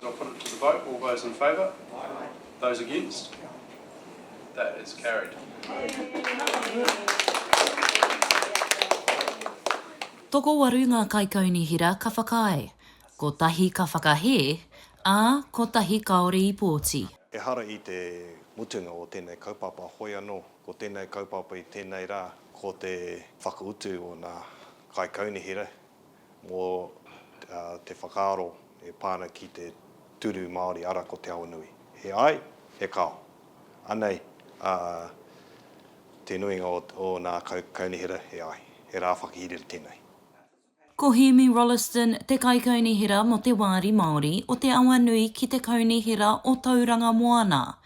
I'll put it to the vote. All those in favour? Aye. Those against? That is carried. Tokowaru ngā kaikaunihera ka whakaae, kotahi ka whakahē, ā, kotahi kāore i pōti. Ehara i te mutunga o tēnei kaupapa hoi anō, ko tēnei kaupapa i tēnei rā, ko te whakautu o nā kaikaunihera mō te whakaaro e pā ana ki te turu Māori ara ko Te Awanui. He ai, he kao. Anei a te nuinga o ōnā kaunihera he ai, he rā whakahirere tēnei. Ko Hēmi Rolleston te Kaikaunihera mō te Wāri Māori o Te Awanui ki te Kaunihera o Tauranga Moana.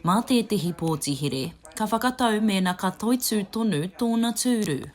Mā tētehi pōti here, ka whakatau mēnā ka toitū tonu tōna tūru.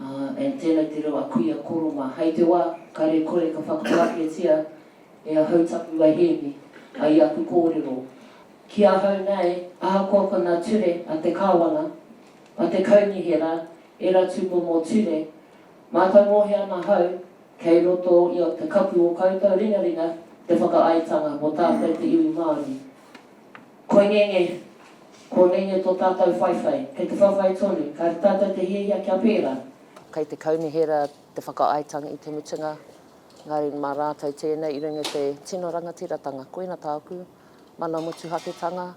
Ā, and tēnei te reo a Kuia Koroma. Hei te wā, kare kore ka whakapaketia e ahau taku wai Hēmi, ai aku kōrero. Ki ahau nei, ahakoa ko nā ture a te Kāwana, a te Kaunihera, ērā tūmomo ture, mātāmōhia ana ahau, kei roto i o te kapu o koutou ringaringa te whakaaetanga mō tātou te iwi Māori. Koinenge, Koinenge tō tātou whaiwhai. Kei te whaiwhai tonu. Ka āta tātou te hiahia kia pērā. Kei te kaunihera te whakaaetanga i te mutunga, engari mā rātou tēnei i runga i te tino rangatiratanga. Koina tāku mana motuhaketanga.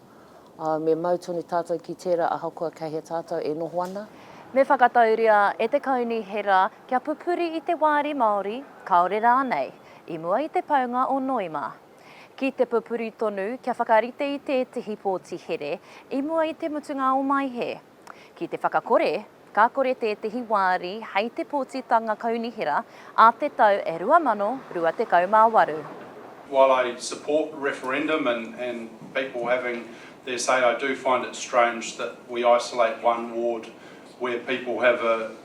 Me mau tonu tātou ki tērā ahakoa kei hea tātou e noho ana. Me whakatauria e te kaunihera kia pupuri i te wāri Māori, kāore rānei, i mua i te paunga o Noema. ki te pupuri tonu kia whakarite i tētehi pōti here i mua i te mutunga o Mai Hē. Ki te whakakore, ka kore tētehi wāri hei te pōtitanga kaunihera a te tau 2028. While I support referendum and and people having their say, I do find it strange that we isolate one ward where people have a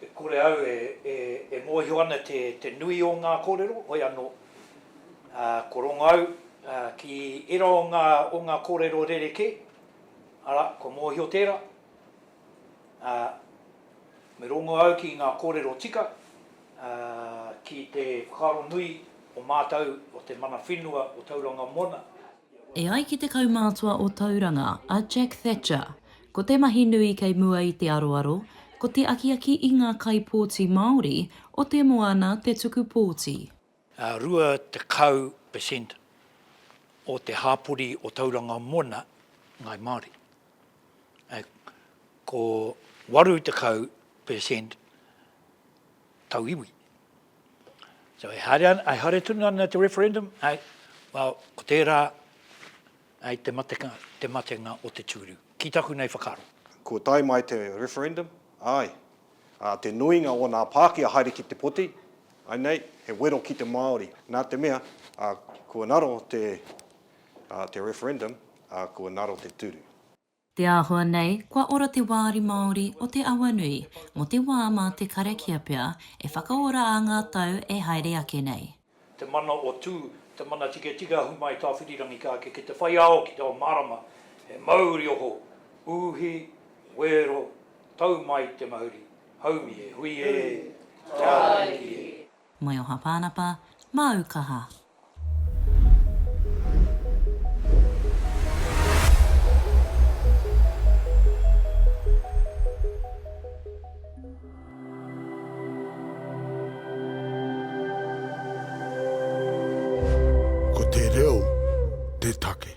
E kore au e mōhio ana te nui o ngā kōrero, hoi anō, ko rongo au ki ērā o ngā kōrero rerekē, arā, kua mōhio tērā, ā, me rongo au ki ngā kōrero tika, ā, ki te whakaaro nui o mātou, o te mana whenua o Tauranga Moana. E ai ki te kaumātua o Tauranga, a Jack Thatcher, ko te mahi nui kei mua i te aroaro, ko te akiaki i ngā kaipōti Māori o te moana te tuku pōti. Ā, 20 per cent o te hāpori o Tauranga Moana, Ngāi Māori. Ā, ko 80 per cent tauiwi, So e haere ana, e haere tonu ana te referendum, āe, well, ko tērā, āe, te matenga, te matenga o te tūru, ki taku nei whakaaro. Kua tae mai te referendum, āe, ā, te nuinga o nā Pākia haere ki te poti, āe nei, he wero ki te Māori, nā te mea, ā, kua ngaro te, ā, te referendum, ā, kua ngaro te tūru. Te āhua nei, kua ora te wāri Māori o te awa nui, mō te wā mā te karakia pea e whakaora ā ngā tau e haere ake nei. Te mana o Tū, te mana tiketika ahu mai Tāwhirirangi ka eke ki te whai ao, ki te ao mārama, he mauri oho, uhi, wero, tau mai te mauri, haumi e hui e, te ariki e. Moe oha Pānapa, māu kaha. Ko te reo te take.